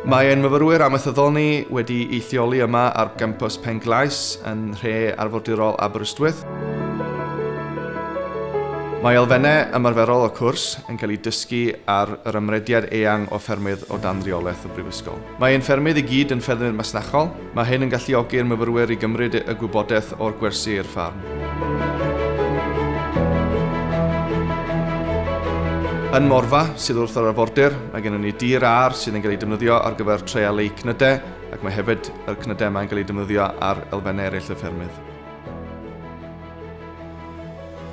Mae ein myfyrwyr amaethyddol ni wedi eithioli yma ar gampus Penglais yn nhre arfordirol Aberystwyth. Mae elfennau ymarferol y cwrs yn cael eu dysgu ar yr ymrediad eang o ffermydd o dan reolaeth y Brifysgol. Mae ein ffermydd i gyd yn ffermydd masnachol, mae hyn yn galluogi'r myfyrwyr i gymryd y gwybodaeth o'r gwersi i'r ffarm. Yn Morfa, sydd wrth yr arfordir, mae gennym ni dir ar sydd yn cael ei defnyddio ar gyfer treialu cnydau ac mae hefyd y cnydau yma yn cael eu defnyddio ar elfennau eraill y ffermydd.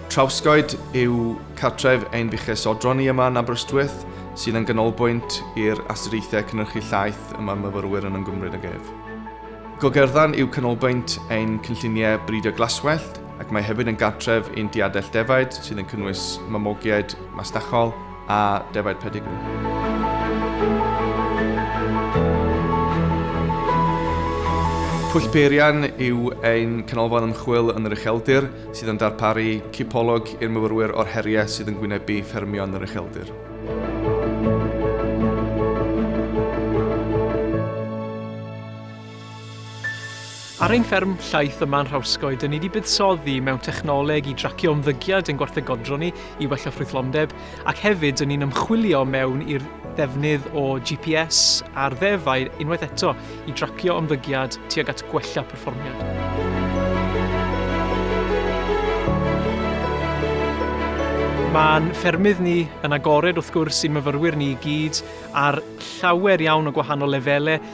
Trawscoed yw cartref ein buches odron ni yma yn Aberystwyth, sydd yn ganolbwynt i'r astudiaethau cynhyrchu llaeth y mae'r myfyrwyr yn ymgymryd ag ef. Gogerddan yw canolbwynt ein cynlluniau bridio glaswellt ac mae hefyd yn gartref i'n diadell defaid sydd yn cynnwys mamogiaid masnachol, a defaid pedigri. Pwll Peirian yw ein canolfan ymchwil yn yr ucheldir sydd yn darparu cipolwg i'r myfyrwyr o'r heriau sydd yn gwynebu ffermio yn yr ucheldir. Ar ein fferm llaeth yma yn Nhrawscoed, dyn ni wedi buddsoddi mewn technoleg i dracio ymddygiad ein gwarthegodron ni i wella ffrwythlondeb, ac hefyd dyn ni'n ymchwilio mewn i'r ddefnydd o GPS ar ddefaid unwaith eto i dracio ymddygiad tuag at gwella perfformiad. Mae'n ffermydd ni yn agored wrth gwrs i'n myfyrwyr ni i gyd ar llawer iawn o gwahanol lefelau